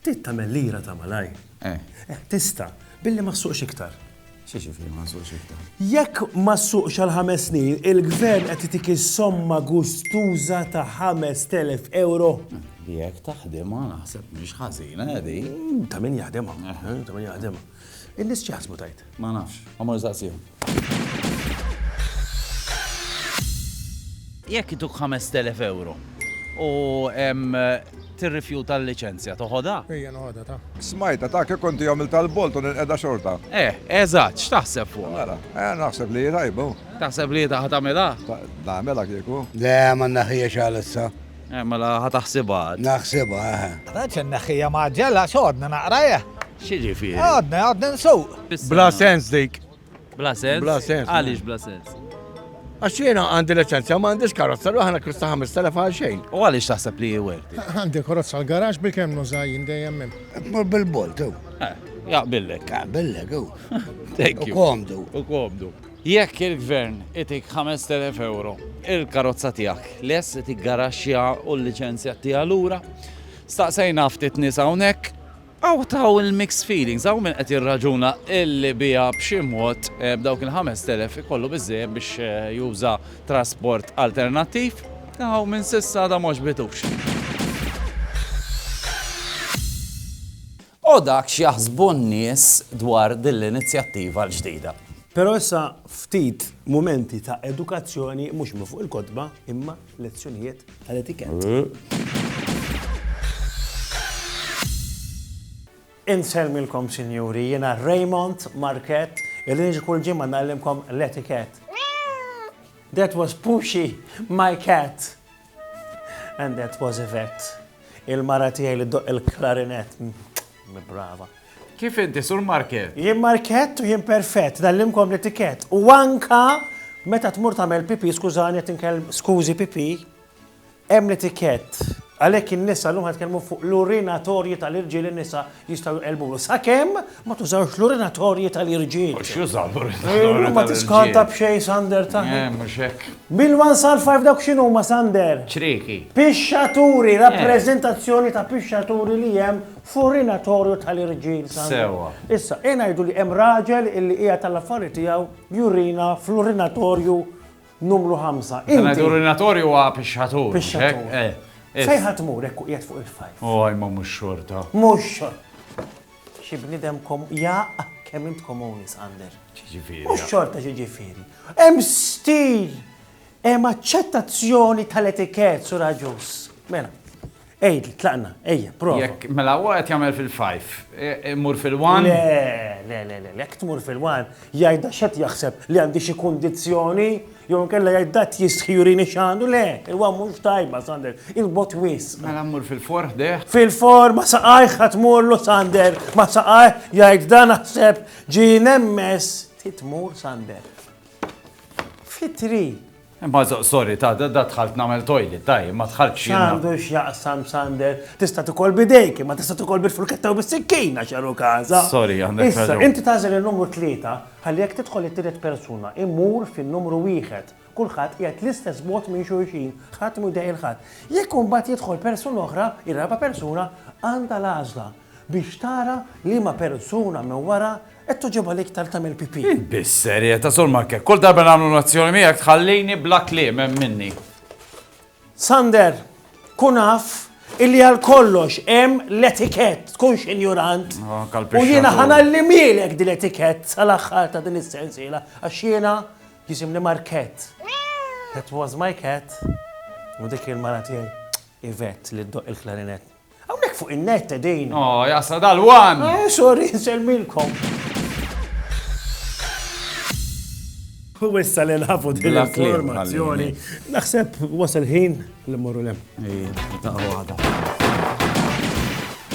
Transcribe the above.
Trid tagħmel lira ta' malajr. Eh. Eh, tista', billi ma ssuqx iktar. X'jiġifieri ma nsuqx iktar? Jekk ma ssuqx għal ħames snin, il-Gvern qed itik is-somma gustuża ta' 5,000 euro. Jekk taħdimha naħseb mhix ħażina, Eddie. Ta' min jaħdimha, ta' min jaħdimha. In-nies x'jaħsbu tgħid? Ma nafx. Ħa mur insaqsihom. Jekk ituk 5,000 ewro u tirrifjuta l-liċenzja, toħodha? Ejja noħodha ta. Smajtha ta, kieku inti għamiltha l-bolt u nilqedha xorta. Eh, eżatt, x'taħseb fuqha? Mela, eh, naħseb li hi tajba hu. Taħseb li ta' ħa tagħmilha? Ta, nagħmilha kieku. Le, ma nneħħiex għalissa. Eh, mela ħa taħsibha għad. Naħsibha, eħe. Għad x'inneħħiha mgħaġġel għax għodni naqrajha. X'jiġifieri? Għadni, għadni nsuq! Bla sens dik. Bla sens? Bla sens. Għaliex bla sens? Għax jiena għandi liċenzja ma għandix karozza, ruħ għana kwista 5,000 għal xejn. U għaliex taħseb li jwerti? Għandi karozza l-garax bi kemm nuża jien dejjem hemm. Tmur bil-bolt u. Eh, jaqbillek. Jaqbillek u. U komdu. U komdu. Jekk il-gvern itik 5,000 euro, il-karozza tijak, les itik garaxja u l-licenzja tija l-ura, staqsajna ftit nisa unek, Hawn ta' hawn il-mixed feelings, hawn min qed jirraġuna illi biha b'xi mod dawk il-ħamest elef ikollu biżżejjed biex juża trasport alternattiv, hawn min s'issa għadha ma għoġbitux. U dak x'jaħsbu n-nies dwar din l-inizjattiva l-ġdida. Però issa ftit mumenti ta' edukazzjoni mhux minn fuq il-kotba imma lezzjonijiet tal-etikett. Insellmilkom sinjuri, jiena Raymond Market, illi niġi kull ġimgħa nagħllimkom l-etikett. That was Pushi, my cat. And that was Yvette, il-mara tiegħi li doq il-klarinett. Brava. Kif inti, Sur Markett? Jien Markett u jien perfett, nagħllimkom l-etikett. U anka meta tmur tagħmel pipì, skużani qed inkellem skużi pipì, hemm l-etikett. Għalhekk in-nisa llum ħatkellmu fuq l-urinatorji tal-irġiel in-nisa jistgħu jqelbulu. Sakemm ma tużawx l-urinatorji tal-irġiel. Mhux jużaw l-urinatorji. Ma tiskanta b'xejn sander ta'. Mhux hekk. Bil-one sal five dawk x'inhuma Sander? Ċrieki. Pixxaturi, eh. rappreżentazzjoni ta' pixxaturi li hemm f'urinatorju tal-irġiel Sander. Sewwa. Issa, e ngħidu li hemm raġel illi qiegħed tal-affari tiegħu jurina fl-urinatorju numru 5. Inti urinatorju huwa pixxatur. Pixxatur. Eh, eh. Fejn ħadd mur hekk qiegħed fuq il-fajf. Oh, imma mhux xorta. Mhux xorta. Xi bniedem kom. Jaqq! Kemm int komuni, Sander! X'jiġifieri? Mhux xorta x'jiġifieri. Hemm stil! Hemm aċċettazzjoni tal-etikett, Sur Agius. Mela. Għidli, tlaqna. Ejja, prova. Jekk, mela huwa qed jagħmel fil-fajf. Immur fil-one? Le, le, le, le, le. Jekk tmur fil-one, jgħidha x'qed jaħseb, li għandi xi kundizzjoni? Jew inkella jgħid dat jistħi jurini x'għandu, le, huwa mhux tajba Sander, il-bot wisq. Mela mmur fil-for ħdejh? Fil-for ma saqajh ħa tmurlu Sander, ma saqajh jgħid da naħseb ġie nemmes ti tmur Sander. Fitri. Imma sorry ta' da dħalt nagħmel toilet, taj, ma dħaltx jiena. X'għandu x'jaqsam Sander, tista' tikol bidejk, ma tista' tikol bil-furketta u bis-sikkina x'għalu każa. Sorry, għandek raġun. Issa, inti tagħżel in-numru tlieta, Ħalli jekk tidħol it-tielet persuna, immur fin-numru wieħed. Kulħadd qiegħed l-istess bogħod minn xulxin, ħadd mhu jdehhi 'l ħadd. Jekk imbagħad jidħol persuna oħra, ir-raba' persuna għandha l-għażla biex tara liema persuna minn wara qed togħġobha l-iktar tagħmel pipì. Int biss serjeta, Sur Markek. Kull darba nagħmlu l-azzjoni miegħek tħallini bla kliem hemm minni. Sander, kun af illi għal kollox hemm l-etikett, tkunx injurant. U jiena ħanallimilek din l-etikett sal-aħħar ta' din is-sensiela, għax jiena jisimni Markett. That was my cat. U dik il-mara tiegħi Ivet li ddoq il-klarinett. Hawnhekk fuq in-net qegħdin. Oh, jasa dal-wan! Eh, sorry, nsellmilkom. U issa li nafu din l-informazzjoni. Naħseb wasal ħin li morru lem. Ej, ta' għada.